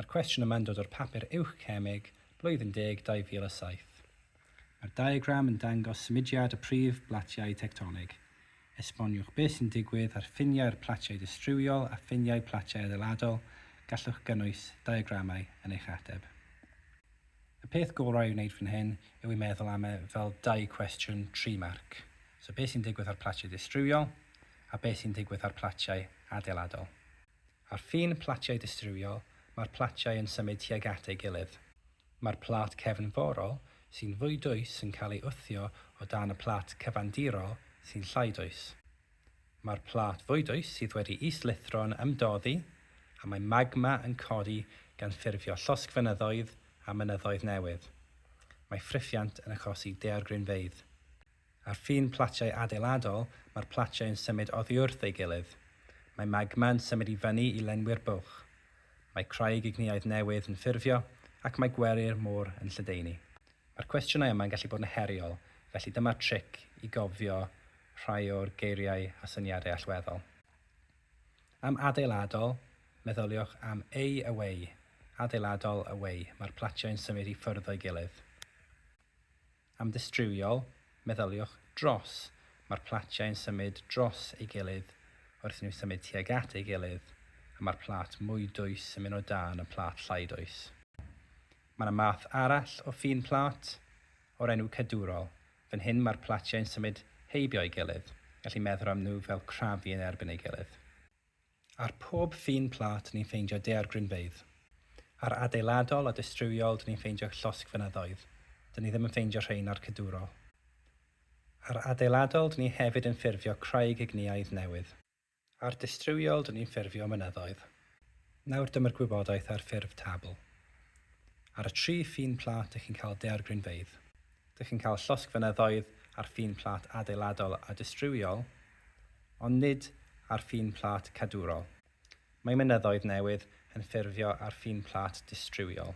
Mae'r cwestiwn yma'n dod o'r papur Uwch Cemeg, Blwyddyn Deg 2007. Mae'r diagram yn dangos symudiad y prif blatiau tectonig. Esboniwch beth sy'n digwydd ar ffiniau'r platiau distriwiol a ffiniau platiau adeiladol, gallwch gynnwys diagramau yn eich ateb. Y peth gorau i'w wneud fan hyn yw i meddwl am e fel dau cwestiwn tri marc, so beth sy'n digwydd ar platiau distriwiol a beth sy'n digwydd ar platiau adeiladol. Ar ffin platiau distrywiol, mae'r platiau yn symud tuag at ei gilydd. Mae'r plât cefnforol, sy'n fwy dwys yn cael ei wthio o dan y plât cyfandirol, sy'n llai dwys. Mae'r plât fwy dwys sydd wedi is-lithro yn ymdoddi, a mae magma yn codi gan ffurfio llosgfynyddoedd a mynyddoedd newydd. Mae ffrifiant yn achosi daeargrynfeydd. Ar ffin platiau adeiladol, mae'r platiau yn symud oddiwrth ei gilydd. Mae magma yn symud i fyny i lenwi'r bwlch. Mae craig ignïaidd newydd yn ffurfio, ac mae gweri'r môr yn lledaenu. Mae'r cwestiynau yma yn gallu bod yn heriol, felly dyma'r tric i gofio rhai o'r geiriau a syniadau allweddol. Am adeiladol, meddyliwch am ei away, adeiladol, away, mae'r platiau yn symud i ffwrdd o'i gilydd. Am dystrywiol, meddyliwch 'dros'. Mae'r platiau yn symud dros ei gilydd wrth i nhw symud tuag at ei gilydd, a mae'r plât mwy dwys yn mynd o dan y plât llai dwys. Mae yna math arall o ffin plât, o'r enw 'cadwrol'. Fan hyn mae'r platiau yn symud heibio ei gilydd, felly meddwl am nhw fel crafu yn erbyn ei gilydd. Ar pob ffin plât ni'n ffeindio daeargrynfeydd. Ar adeiladol a dystrywiol dyn ni'n ffeindio llosgfynyddoedd, dyn ni ddim yn ffeindio rhein ar cadwrol. Ar adeiladol dyn ni hefyd yn ffurfio craig igniaidd newydd. Ar dystrywiol dyn ni'n ffurfio mynyddoedd. Nawr dyma'r gwybodaeth ar ffurf tabl. Ar y tri ffin plât dych chi'n cael daeargrynfeydd. Dych chi'n cael llosg fynyddoedd ar ffin plât adeiladol a distriwiol, ond nid ar ffin plât cadwrol. Mae mynyddoedd newydd yn ffurfio ar ffin plât distriwiol.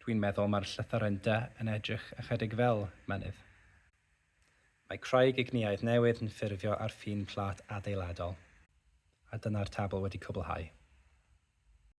Dwi'n meddwl mae'r llythyren dy yn edrych ychydig fel mynydd. Mae craig igniaidd newydd yn ffurfio ar ffin plât adeiladol. A dyna'r tabl wedi cwblhau.